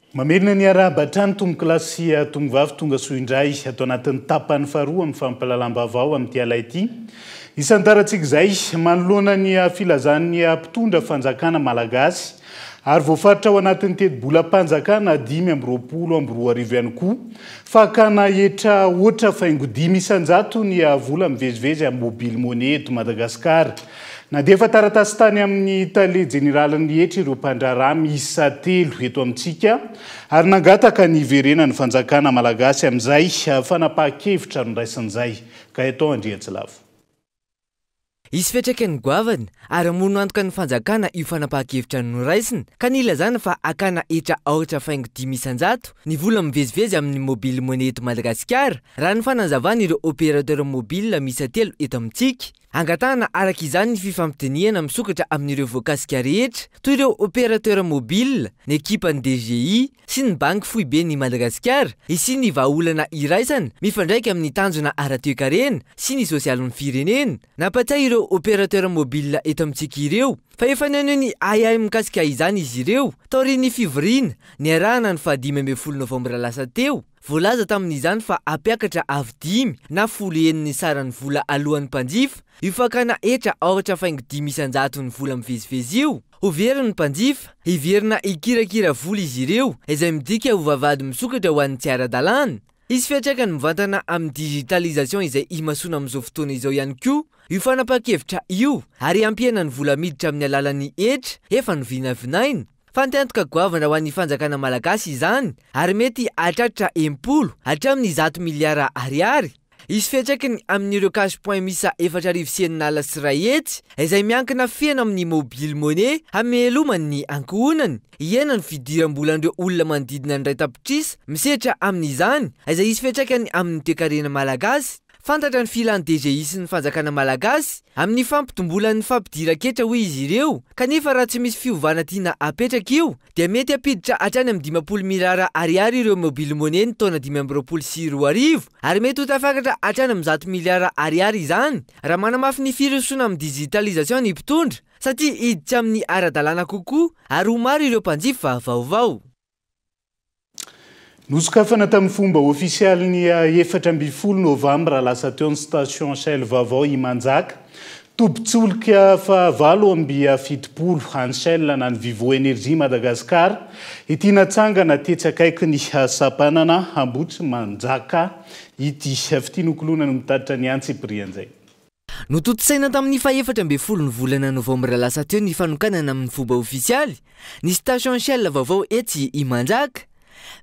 Speaker 1: Mamerina ny harahaba hatrany tompokolahy sy tongovavy tonga soa indray ato anatin'ny tapany faharoa amin'ny fampahalalam-baovao amin'ity ala ity. Isan'ny tarantsika izay, manoloana ny filazan'ny mpitondra fanjakana malagasy ary voafaritra ao anatin'ny tetibolam-panjakana dimy amby roapolo amby roa arivo ihany koa, fa hakana hetra hoatra faingo dimy isan-jato ny vola mivezivezy amin'ny mobile money eto Madagasikara. Nandefa taratasy tany amin'ny Tale Jeneralin'ny hetra ireo mpandraharaha miisa telo eto amintsika ary nangataka ny hiverenan'ny fanjakana malagasy amin'izay fanapahan-kevitra noraisiny izay. Gaëtan Andriantsilavo.
Speaker 5: Hisy fiantraikany goavana ary hamono antoka ny fanjakana io fanapahan-kevitra noraisiny ka nilazana fa hakana hetra aoritra faingo dimy isan-jato ny vola mivezivezy amin'ny Mobile Money eto Madagasikara, raha ny fanazavan'ireo opérateur mobile miisa telo eto amintsika. Angatahana araka izany ny fifampidinihana misokatra amin'ireo voakasika rehetra toy ireo opérateurs mobiles, ny ekipan'ny DGI sy ny Banky foiben'i Madagasikara hisian'ny vahaolana iraisana mifandraika amin'ny tanjona ara-toekarena sy ny sosialin'ny firenena. Nampatsiahy ireo opérateurs mobiles eto amintsika ireo fa efa naneho ny ahiahy mikasika izany izy ireo taorian'ny fivoriana niarahana ny fahadimy ambin'ny folo novambra lasa teo, Voalaza tamin'izany fa hampiakatra avo dimy na folo heny ny saran'ny vola aloan'ny mpanjifa. Io fakana hetra aoratra faingo dimy isan-jato ny vola mivezivezy io, ho very ny mpanjifa. Heverina hikirakira vola izy ireo, izay midika ho vavahady misokatra ho an'ny tsy ara-dalàna. Hisy fiantraikany mivantana amin'ny digitalisation izay imasoana amin'izao fotoana izao ihany koa io fanapahan-kevitra io ary hampihena ny vola miditra amin'ny alalan'ny hetra efa novinavinaina. Fanteantoka goavana ho an'ny fanjakana malagasy izany ary mety hahatratra enim-polo hatramin'ny zato miliara ariary. Hisy fiantraikany amin'ireo cash point miisa efatra arivo sy enina ala sy iray hetsy izay miankina feno amin'ny mobile money hameloman'ny ankohonany hiaina ny fidiram-bolan'ireo olona manodidina ny iray tapitrisa misedra amin'izany izay hisy fiantraikany amin'ny toekarena malagasy. Fantatra ny filan'ny DGI sy ny fanjakana malagasy amin'ny fampitombolan'ny fampidiran-ketra hoy izy ireo, kanefa raha tsy misy fiovana tiana apetraka io dia mety hampiditra hatrany amin'ny dimampolo mirara ariary ireo mobile money ny taona dimy amby roapolo sy roa arivo ary mety ho tafakatra hatrany amin'ny zato miliara ariary izany raha manamafy ny firosoana amin'ny digitalisation ny mpitondra satria hiditra amin'ny ara-dalàna kokoa ary ho maro ireo mpanjifa vaovao.
Speaker 1: Nosokafana tamin'ny fomba ofisialy ny efatra ambin'ny folo novambra lasa teo ny station Shell vaovao Imanjaka, tobin-tsolika fahavalo amby fitopolo an'ny Shell na ny Vivo Energy Madagascar, ity natsangana tetsy akaikin'ny sampanana Ambohitrimanjaka ity. Fitia nokoloina no mitatitra ny antsipiriany izay. Notontosaina
Speaker 5: tamin'ny fahefatra ambin'ny folon'ny volana novambra lasa teo ny fanokanana amin'ny fomba ofisialy ny station Shell vaovao etsy Imanjaka.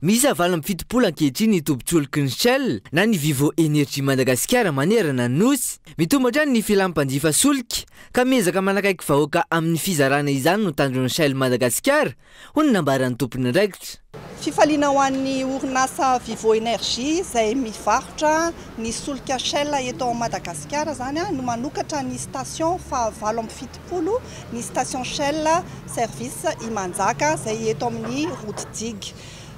Speaker 5: Miisa valo amby fitopolo ankehitriny ny tobin-tsolky ny Shell na ny Vivo Energy Madagasikara manerana ny Nosy. Mitombo hatrany ny filan'ny mpanjifa solika ka miezaka manakaiky vahoaka amin'ny fizarana izany no tanjon'ny Shell Madagasikara hoy ny nambaran'ny tomponandraikitra. Fifaliana ho
Speaker 19: an'ny orinasa Vivo Energy izay mivarotra ny solika Shell eto Madagasikara izany no manokatra ny station faha valo amby fitopolo ny station Shell service Imanjaka izay eto amin'ny route Dig.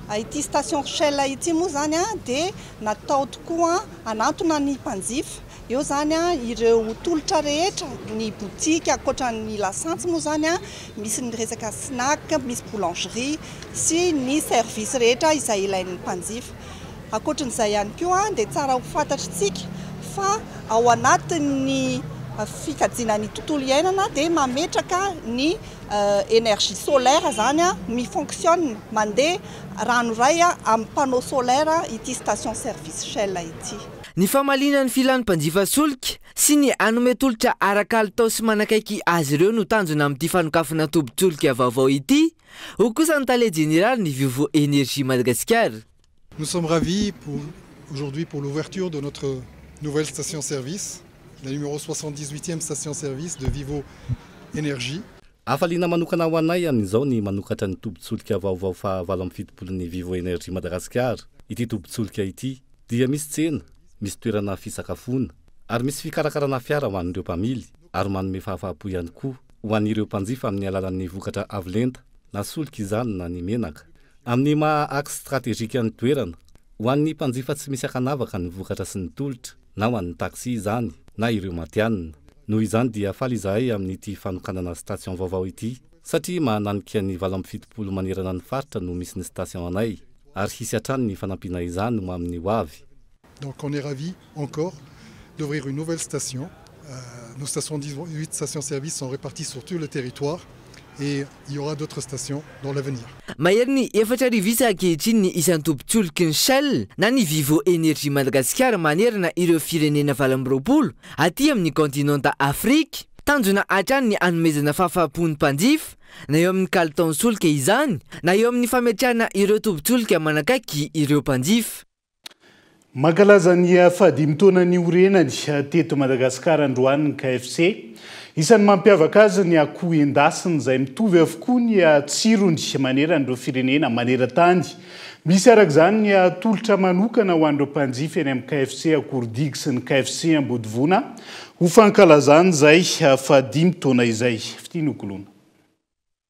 Speaker 19: Ity station Shell ity moa izany dia natao tokoa hanantona ny mpanjifa Eo izany ireo tolotra rehetra, ny boutique, ankoatra ny lasantsy moa izany, misy ny resaka snack, misy boulangerie sy ny service rehetra izay ilain'ny mpanjifa. Ankoatran'izay ihany koa dia tsara ho fantatr'isika fa ao anatin'ny fikajiana ny tontolo iainana dia mametraka ny energie solaire izany, mi-fonctionne, mandeha rano iray amin'ny panneau solaire ity station service Shell ity. Ny famaliana
Speaker 5: ny filan'ny mpanjifa solika sy ny hanome tolotra ara-kalitao sy manakaiky azy ireo no tanjona amin'ity fanokafana tobin-tsolika vaovao ity, hoy kosa ny tale jeneralin'ny Vivo Energie Madagasikara. Nous sommes
Speaker 20: ravis aujourd'hui pour l'ouverture de notre nouvelle station-service, la numéro soixante-dix-huitième station-service de Vivo Energie. Hafaliana
Speaker 21: manokana ho anay amin'izao ny manokatra ny tobin-tsolika vaovao fahavalo amby fitopolon'ny Vivo Energy Madagasikara. Ity tobin-tsolika ity dia misy tsena, misy toerana fisakafoana ary misy fikarakarana fiara ho an'ireo mpamily ary manome fahafahampo ihany koa ho an'ireo mpanjifa amin'ny alalan'ny vokatra avo lenta na solika izany na ny menaka. Amin'ny maha axe strategique ny toerana, ho an'ny mpanjifa tsy misy akanavaka ny vokatra sy ny tolotra, na ho an'ny taxi izany na ireo matihanina. Noho izany dia faly izahay amin'ity fanokanana station vaovao ity satria mahananika ny valo amby fitopolo manerana ny faritra no misy ny station anay ary hisy hatrany ny fanampiana izany ho amin'ny ho avy. Donc on est ravis
Speaker 20: encore d'ouvrir une nouvelle station, nos soixante dix huit stations services sont reparties sur tout le territoire. et il y aura d'autres stations dans l'avenir. Mahery ny efatra
Speaker 5: arivo isa ankehitriny ny isan'ny tobin-tsoloky ny Shell na ny Vivo Energy Madagasikara manerana ireo firenena valo amby roapolo aty amin'ny kaontinanta Afrika. Tanjona hatrany ny hanomezana fahafaham-po ny mpanjifa, na eo amin'ny kalitaon'ny solika izany, na eo amin'ny fametrahana ireo tobin-tsolika manakaiky ireo mpanjifa.
Speaker 1: Mankalaza ny fahadimy taona niorenany teto Madagasikara androany ny KFC. Isan'ny mampiavaka azy ny akoho endasina izay mitovy avokoa ny tsirony maneran'ireo firenena maneran-tany. Misy araka izany ny atolotra manokana ho an'ireo mpanjifa eny amin'ny KFC Akordigy sy ny KFC Ambodivona ho fankalazana izay fahadimy taona izay. Fitia nokoloina.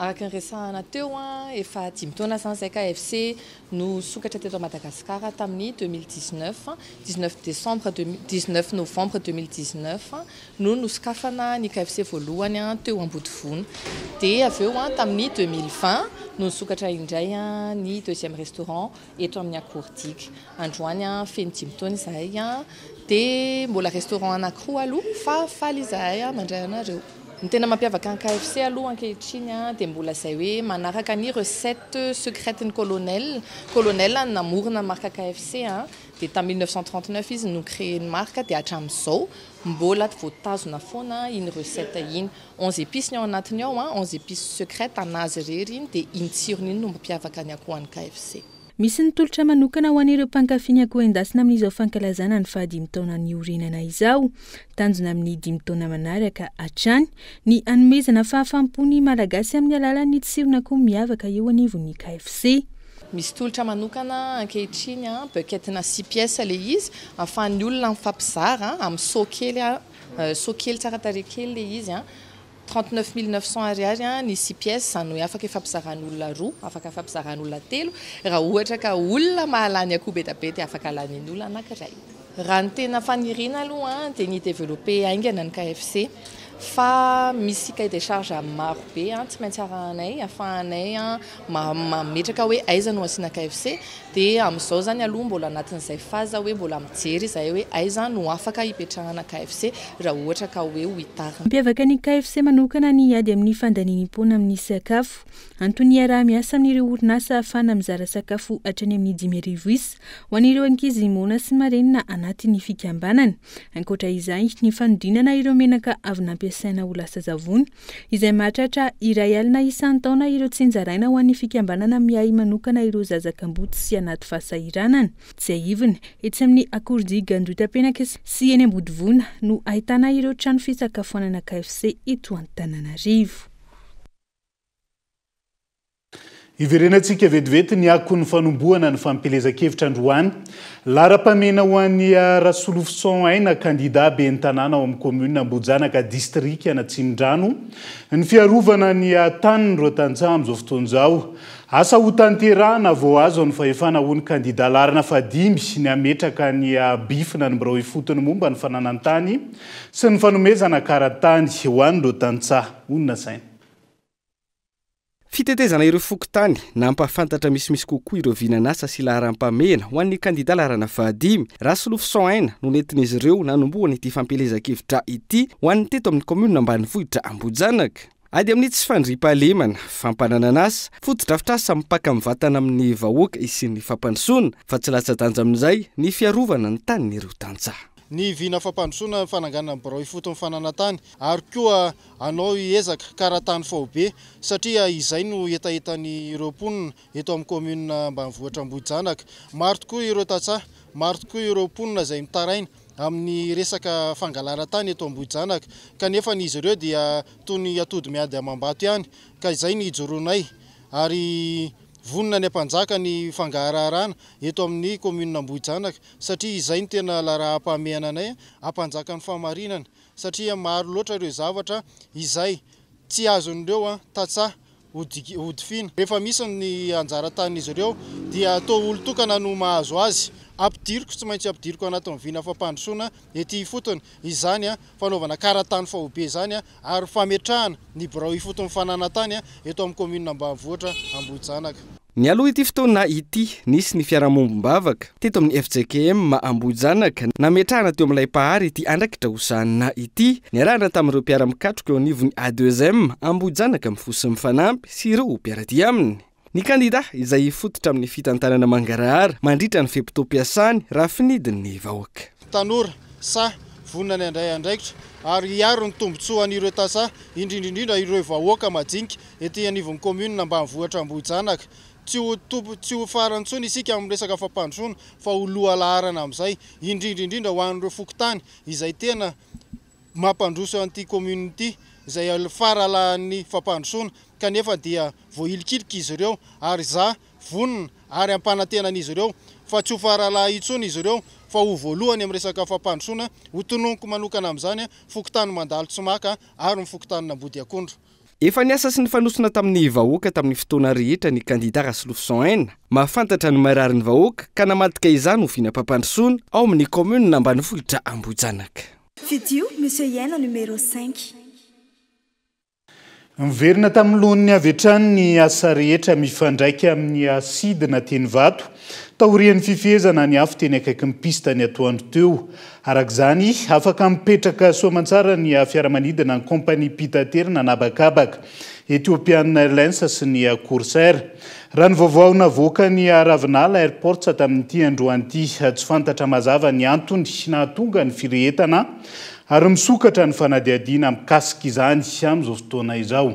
Speaker 22: Araka ny
Speaker 23: resahana teo, efa dimy taona izany izay ka FC no sokatra teto Madagasikara tamin'ny deux mille dix-neuf, dix-neuf décembre deux mille dix-neuf, novembre deux mille dix-neuf no nosokafana ny KFC voalohany teo Ambodivona dia avy eo tamin'ny deux mille vingt no nisokatra indray ny deuxième restaurant eto amin'ny Akordic. Androany feno dimy taona izahay, dia mbola restaurant anankiroa aloha fa faly izahay mandray anareo. Ny tena mampiavaka an'i KFC aloha ankehitriny dia mbola izay hoe manaraka ny recette secrète ny colonel. Colonel no namorona ny marque KFC, dia tamin'ny mille neuf cent trente neuf izy no ni-créer ny marque dia hatramin'izao mbola voatazona foana iny recette iny. Onze épices ny ao anatiny ao an, onze épices secrètes an'azy irery iny dia iny tsirony iny no mampiavaka ny akoho any KFC. Misy ny tolotra
Speaker 22: manokana ho an'ireo mpankafy ny akoho endasina amin'izao fankalazana ny fahadimy taona niorenana izao. Tanjona amin'ny dimy taona manaraka hatrany ny hanomezana fahafaham-po ny Malagasy amin'ny alalan'ny tsiron'akoho miavaka eo anivon'ny KFC.
Speaker 23: Misy tolotra manokana ankehitriny an, bucket-na six pièces ilay izy, ahafahan'ny olona mifampizara amin'ny seau kely Soa kely tsara tarehy kely le izy an! Trente neuf mille neuf cents ariary an ny six pièces, izany hoe afaka ifampizaràn'olona roa, afaka ifampizaràn'olona telo, raha ohatra ka olona mahalany akoho be dia be dia afaka lanian'olona anankiray. Raha ny tena faniriana aloha an dia ny hi-developper haingana ny KFC fa misy cahier de charge maro be an tsy maintsy arahanay afahanay an mametraka hoe aiza no asiana KFC dia amin'izao izany aloha mbola anatin'izay phase hoe mbola mijery izahay hoe aiza no afaka hipetrahana KFC raha ohatra ka hoe ho itarina. Mampiavaka ny KFC
Speaker 22: manokana ny ady amin'ny fandaniam-poana amin'ny sakafo. Antony hiaraha-miasa amin'ireo orinasa ahafahana mizara sakafo hatrany amin'ny dimy arivo isa ho an'ireo ankizy moana sy marenina anatin'ny fikambanana. Ankoatra izay, ny fanodinana ireo menaka avy nampiasaina ho lasa zavony izay mahatratra iray alina isan-taona ireo tsinjaraina ho an'ny fikambanana miahy manokana ireo zaza kamboty sy anaty fahasahiranana. Tsiahivina, etsy amin'ny Akordia Gandoitapenaka sy eny Ambodivona no ahitana ireo trano fisakafoanana KFC eto Antananarivo.
Speaker 1: Hiverenantsika vetivety ny akon'ny fanombohana ny fampielezan-kevitra androany. Laharam-pahamehana ho an'i Rasolofison Aina, kandidà ben'ny tanàna ao amin'ny kaominina Ambohijanaka, distrikan'Atsimondrano, ny fiarovana ny tanin'ireo tantsaha amin'izao fotoana izao. Asa hotanterahina vao azo ny fahefana, hoy ny kandidà laharana fahadimy, ny hametraka ny bifina ny birao ifotony momba ny fananan-tany sy ny fanomezana karan-tany ho an'ireo tantsaha ho nasaina.
Speaker 9: Fitetezana ireo fokontany, nampahafantatra misimisy kokoa ireo vinan'asa sy laharam-pamehana ho an'ny kandida laharana fahadimy. Rasolofison Aina no nentin'izy ireo nanombohana ity fampielezan-kevitra ity ho an'ny teto amin'ny kaominina ambanivohitra Ambohijanaka. Ady amin'ny tsy fandriampahalemana, fampananan'asa, fotodrafitrasa mipaka mivantana amin'ny vahoaka hisian'ny fampandrosoana, fa tsy latsa-danja amin'izay ny fiarovana ny tanin'ireo tantsaha. Ny vina
Speaker 24: fampandrosoana ny fananganana ny birao ifotony fananantany ary koa Hanao ezaka karatany faobe satria izay no hetahetan'ireo mponina eto amin'ny kaominina ambanivohitra Ambohijanaka. Maro tokoa ireo tantsaha, maro tokoa ireo mponina izay mitaraina amin'ny resaka fangalana tany eto Ambohijanaka kanefa ny izy ireo dia toy ny atody miady amam-bato ihany ka izay ny hijoroanay ary vonona ny hampanjaka ny fangaharaharana eto amin'ny kaominina Ambohijanaka satria izay no tena laraham-pahamehana anay hampanjaka ny fahamarinana satria maro loatra ireo zavatra izay tsy azon'ireo tantsaha hodifiana. Rehefa misy ny anjara tanin'izy ireo dia toa olon-tokana no mahazo azy. Ampidiriko, tsy maintsy ampidiriko anatin'ny vina fampandrosoana ety ifotony izany fanaovana karatany faobe izany ary fametrahana ny birao ifotony fananantany eto amin'ny kaominina ambanivohitra Ambohijanaka. Nialoha ity
Speaker 9: fotoana ity, nisy ny fiarahamombom-bavaka teto amin'ny fjkm Ambohijanaka nametrahana teo amin'ilay Mpahary ity andrakitra hosanina ity, niarahana tamin'ireo mpiara-mikatroka eo anivon'ny ADESM Ambohijanaka Mifoha sy Mifanampy sy ireo mpiara-dia aminy. Ny kandidà izay hifototra amin'ny fitantanana mangarahara mandritra ny fe-potoam-piasany raha finidin'ny vahoaka. Tanora,
Speaker 24: sahy, vonona ny handray andraikitra ary hiaro ny tombontsoan'ireo tantsaha, indrindra indrindra ireo vahoaka majinika ety anivon'ny kaominina ambanivohitra Ambohijanaka. Tsy ho tompo, tsy ho farany intsony isika amin'ny resaka fampandrosoana fa ho lohalaharana amin'izay, indrindra indrindra ho an'ireo fokontany izay tena. mampandroso an'ity commune ity izay faralahan'ny fampandrosoana kanefa dia voahilikilika izy ireo ary izaho vonona ary ampanantena an'izy ireo fa tsy ho faralaha intsony izy ireo fa ho voalohany amin'ny resaka fampandrosoana ho tononiko manokana amin'izany fokontany Mandalo-Tsimaka ary ny fokontanin'Ambodiakondro. Efa niasa sy
Speaker 9: nifanosona tamin'ny vahoaka tamin'ny fotoana rehetra ny kandida Rasolofison Aina. Mahafantatra ny marary ny vahoaka ka namadika izany ho vinam-pampandrosoana ao amin'ny kaominina ambanivohitra Ambohijanaka. Fidio
Speaker 25: Monsieur Iaina numéro
Speaker 1: cinq. Niverina tamin'ny lohany avy hatrany ny asa rehetra mifandraika amin'ny asidina teny Ivato, taorian'ny fifehezana ny afo teny akaikin'ny piste ny atoandro teo. Araka izany, afaka mipetraka soa aman-tsara ny fiaramanidina an'ny kaompaniam-pitaterana an'habakabaka, Ethiopian Airlines sy ny Corsair. Raha ny vaovao navoakan'ny Ravinala Airports tamin'ity androany ity, tsy fantatra mazava ny antony nahatonga ny firehetana ary misokatra ny fanadihadiana mikasika izany amin'izao fotoana izao.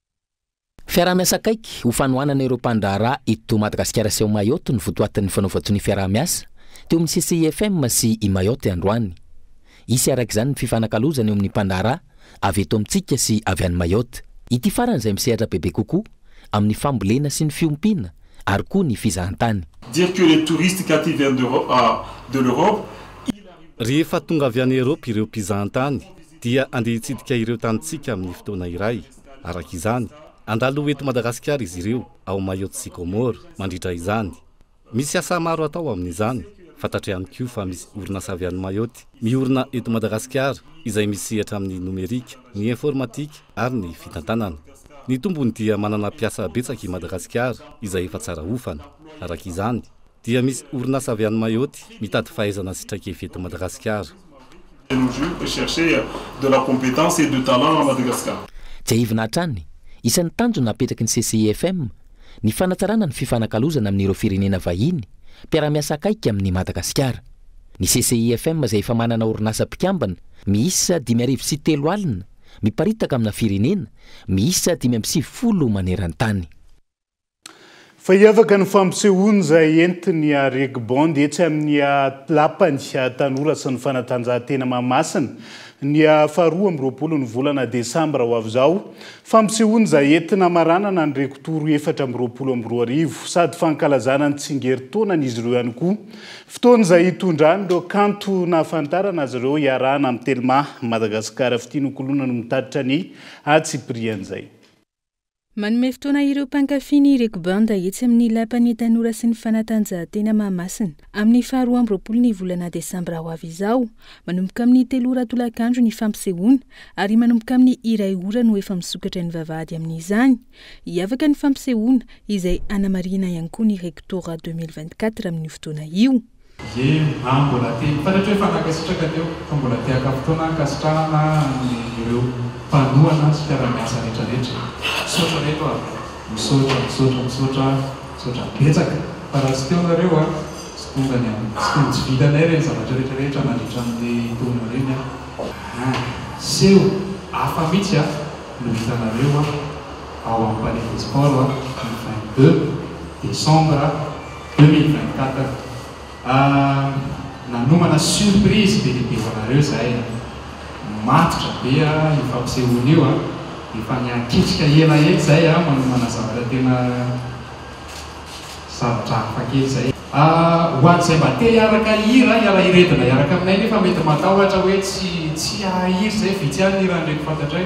Speaker 2: Fiaraha-miasa akaiky ho fanohanana ireo mpandraharaha eto Madagasikara sy ao Mayotte no votoatin'ny fanaovan-tsonia fiaraha-miasa teo amin'ny CCIFM sy i Mayotte androany. Hisy araka izany ny fifanakalozana eo amin'ny mpandraharaha avy eto amintsika sy avy any Mayotte. Ity farany izay misehatra bebe kokoa amin'ny fambolena sy ny fiompiana ary koa ny fizahantany. Dire que les
Speaker 3: touristes quand ils viennent de l'Europe, ils arrivent dans. Rehefa
Speaker 21: tonga avy any Europe ireo mpizahantany, dia andeha hitsidika ireo tanintsika amin'ny fotoana iray, araka izany, handalo eto Madagasikara izy ireo, ao Mayotte sy Comores, mandritra izany. Misy asa maro atao amin'izany, fantatro ihany koa fa misy orinasa avy any Mayotte miorina eto Madagasikara izay misehatra amin'ny nomerika, ny informatika ary ny fitantanana. Ny tombony dia manana mpiasa betsaka i Madagasikara izay efa tsara hofana, araka izany. Dia misy orinasa avy any Mayotte mitady fahaizana sy traikefa eto Madagasikara. De nos jours
Speaker 3: peut chercher de la competence et de talent à Madagascar. Tsiahivina hatrany,
Speaker 2: isan'ny tanjona apetraky ny CCIFM ny fanatsarana ny fifanakalozana amin'ireo firenena vahiny mpiara-miasa akaiky amin'i Madagasikara. Ny CCIFM izay efa manana orinasa mpikambana miisa dimy arivo sy telo alina miparitaka amina firenena miisa dimy amby sivifolo maneran-tany.
Speaker 1: Fa hiavaka ny fampisehoany izay entin'ny Reg Band etsy amin'ny Lapan'ny tanora sy ny fanatanjahantena Mahamasina, ny faha roa amby roapolo ny volana desambra ho avy izao. Fampisehoany izay entina hamaranana ny Reg Tour efatra amby roapolo amby roa arivo, sady fankalazana ny tsingerintaonan'izy ireo ihany koa. Fotoana izay hitondrany ireo kanto nahafantarana azy ireo hiarahana amin'ny Telma Madagascar Fitia Nokoloina no mitatitra ny antsipirihan'izay. Manome
Speaker 22: fotoana ireo mpankafy ny Reko Banda etsy amin'ny Lapan'ny Tanora sy ny Fanatanjahantena Mahamasina amin'ny faha roa amby roapolo ny volana desambra ho avy izao. Manomboka amin'ny telo ora tolakandro ny fampisehoana ary manomboka amin'ny iray ora no efa misokatra ny vavahady amin'izany. Hiavaka ny fampisehoana, izay hanamarihina ihany koa ny Rektora deux mille vingt-quatre amin'io fotoana io. Ye, ah
Speaker 4: mbola te hitaratra hoe fa nankasitraka teo fa mbola te haka fotoana hankasitrahana an'ny ireo mpanohana sy mpiara-miasa rehetra rehetra. Misaotra reto ah. Misaotra, misaotra, misaotra ah. Misaotra betsaka fa raha tsy teo nareo ah tsy tonga ny an, tsy tonga tsy vitanay ireny zavatra rehetra rehetra nandritra an'le taona ireny ah. Ah, seho hafa mitsy ah no hitanareo ah ao amin'ny Palais des Sports ah ny vingt deux décembre ah. Deux mille vingt quatre nanomana surprise be dia be ho anareo zahay a! Matotra be a io fampisehoana io a! Efa niankitrika ela etsy zay a manomana zavatra tena zavatra hafa kely zay. Ho an'izay mba te hiaraka hihira, hiara-hiredona hiaraka aminay nefa mety matahotra hoe tsy tsy hahay hira izay, vitsy ihany ny hiran'ireko fantatray.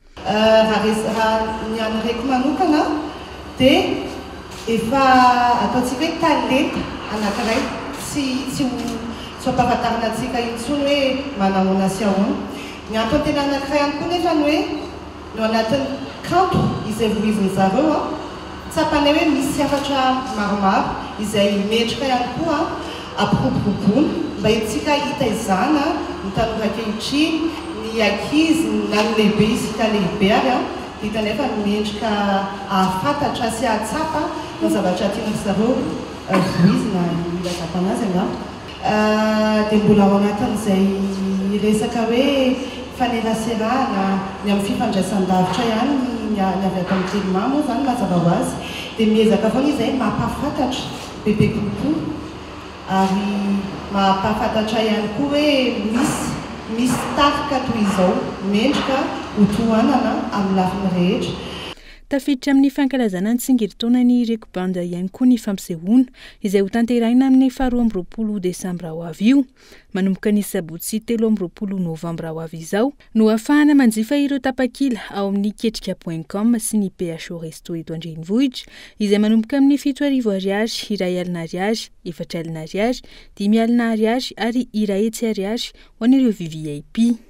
Speaker 22: Raha
Speaker 19: ny an'i Reko manokana dia efa ataontsika hoe talenta anankiray tsy ho ampahafantarina antsika intsony hoe manahoana sy ahoana. Ny antony tena anankiray ihany koa nefa ny hoe ny ao anatin'ny kanto izay vohizin'i zareo, Tsapanay hoe misy hafatra maromaro izay mendrika ihany koa ampiroboroboana mba entintsika hitaizana ny tanora ankehitriny, ny ankizy na ny lehibe isika lehibe ary vita nefa ny mendrika hahafantatra sy hahatsapa ny zavatra tiana ry zareo voizina mila zakana azy angamba. dia mbola ao anatin'izay resaka hoe faneraserahana ny amin'ny fifandraisan-davitra ihany ny avy ato amin'ny Telma moa izany mazava ho azy dia miezaka foana izahay mampahafantatra bebe kokoa ary mampahafantatra ihany koa hoe misy misy tarika toy izao mendrika ho tohanana amin'ny lafiny rehetra. Tafiditra
Speaker 22: amin'ny fankalazana ny tsingerin-taonan'ny Ireko Banda ihany koa ny fampisehoana, izay hotanterahina amin'ny faharoa amby roapolo desambra ho avy io. Manomboka ny sabotsy telo amby roapolo novambra ho avy izao no hahafahana manjifa ireo tapakila ao amin'ny Ketrika point com sy ny PHO Resto eto an-drenivohitra, izay manomboka amin'ny fito arivo Ariary, iray alina Ariary, efatra alina Ariary, dimy alina Ariary ary iray hetsy Ariary ho an'ireo VVIP.